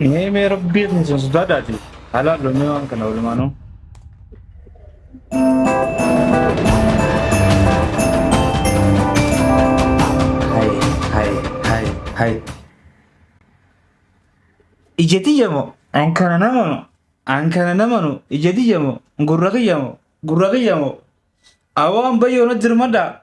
Mee mee rabbii isin isin sodaadhaati. Haalaa loomee waan kana walumaanuu. Hai, hai, hai, hai. Ija tiyya moo? An kana nama moo? An kana nama nu? Ija tiyya moo? Gurra kiyya moo? Gurra kiyya moo? Awoo an bayyoo na dirmadhaa.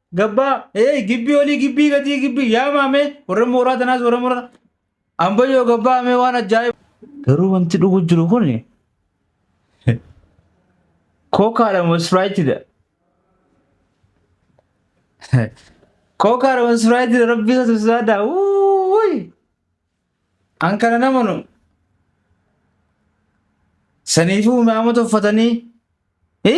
Gabbaa, ee gibbii olii gibbii gadii gibbii yaamaa mee warra mooraa tanaas warra mooraa ambayyoo gabbaa mee waan ajaa'iba. Garuu wanti dhugu jiru kun kookaadha moo ispiraayitidha? Kookaadha moo ispiraayitidha rabbii isa tusisaa daa wuuy. An kana hin amanu. Saniifuu imaamota uffatanii hi?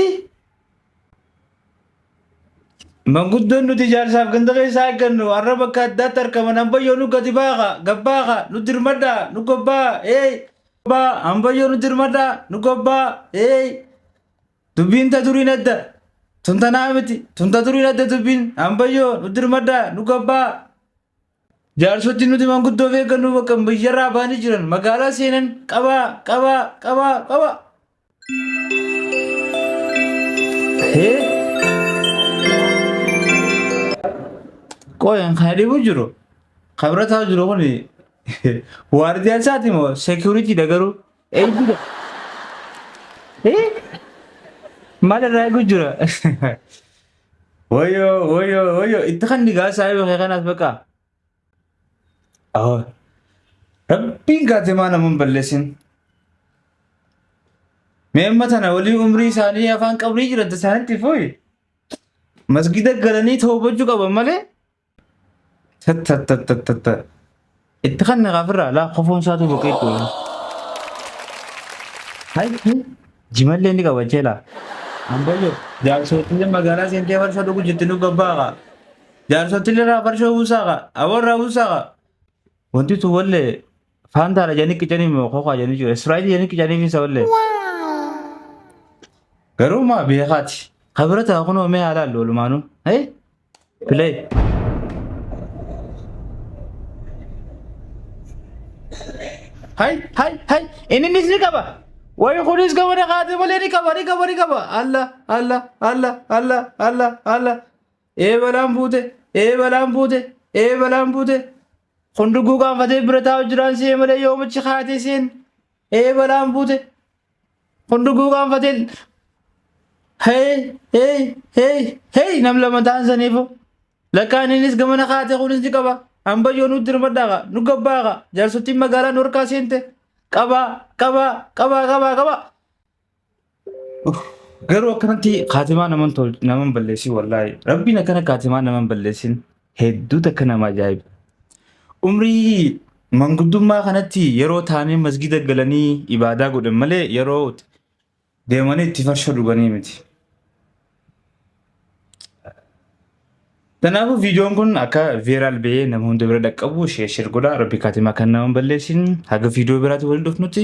Manguddoon nuti ijaarsaaf ganda keessaa eeggannu har'a bakka addaatti argaman ambayyoo nu gadi baaqa, gabbaaqa, nu dirmadhaa, nu gobbaa, eey! Gobbaa, ambayyoo nu dirmadhaa, nu gobbaa, eey! Dubbiin ta duriin adda. Tun tanaa miti. Tun ta duriin adda dubbiin. Ambayyoo nu dirmadhaa, nu gobbaa. Jaarsoti nuti manguddoo of eeggannoo bakka biyyarraa baanii jiran magaalaa seenan qabaa qabaa qabaa qabaa. Hee? Qoyan kana dhibu jiru. Kabira taa'u jiru kun waardiyaa isaati moo seekiyuriitiidha garuu? Eeyyida. Ee? Maal irraa eegu jira? Woyo woyo woyo itti kan digaa saayiba kee kanaas baqa. Awwa. Rabbiin kaatimaa naman balleessin. Mee amma tana walii umrii isaanii afaan qabrii jiran isaanitti fuyi. Masgida galanii toobachuu qaban malee Tattattattattatta. Itti kan naqaa firraa laa kofoon isaatu boqee itti wayii. Hai hai jimallee ni qabachee laa. Ambayyo jaarsootillee magaalaa seentee farshoo dhugu jirti nu babbaaqa. Jaarsootillee irraa farshoo buusaaqa. Awoo irraa buusaaqa. Wanti tu wallee faantaadha jedhanii qicanii moo kokaa jedhanii jiru. Israa'ilii jedhanii qicanii fi isa wallee. Garuu maa beekaati. Kabira ta'a kunoo mee haalaallu walumaanuu. Hee? Play. Hay hay hay inni innis ni qaba. Wayi kunis gama na kaatee malee ni qaba ni qaba ni qaba. Alla alla alla alla alla alla. Ee balaan buute ee balaan buute ee balaan buute. Kun dugguu gaanfatee bira taa'u jiraan si'ee malee yoomichi kaatee seen. Ee balaan buute. Hunduu guugaanfateen hey hey hey hey nam lama ta'an saniifu lakkaan innis gamana kaate kunis ni qaba ambayyoo nu dirmadhaaqa nu gabbaaqa jaarsottiin magaalaa nu harkaa seente qabaa qabaa qabaa qabaa qabaa. Garuu akkanatti kaatimaa naman balleessin wallaahi rabbiin akkana kaatimaa naman balleessin. Hedduu takka nama ajaa'iba. Umrii manguddummaa kanatti yeroo taa'anii masgiida galanii ibaadaa godhan malee yeroo deemanii itti farshoo dhuganii miti. Kanaafuu viidiyoon kun akka veeraal ba'ee nama hunda bira dhaqqabu sheer sheer godha. Rabbi kaatimaa kan nama hin balleessin haga viidiyoo biraatti waliin dhufnutti.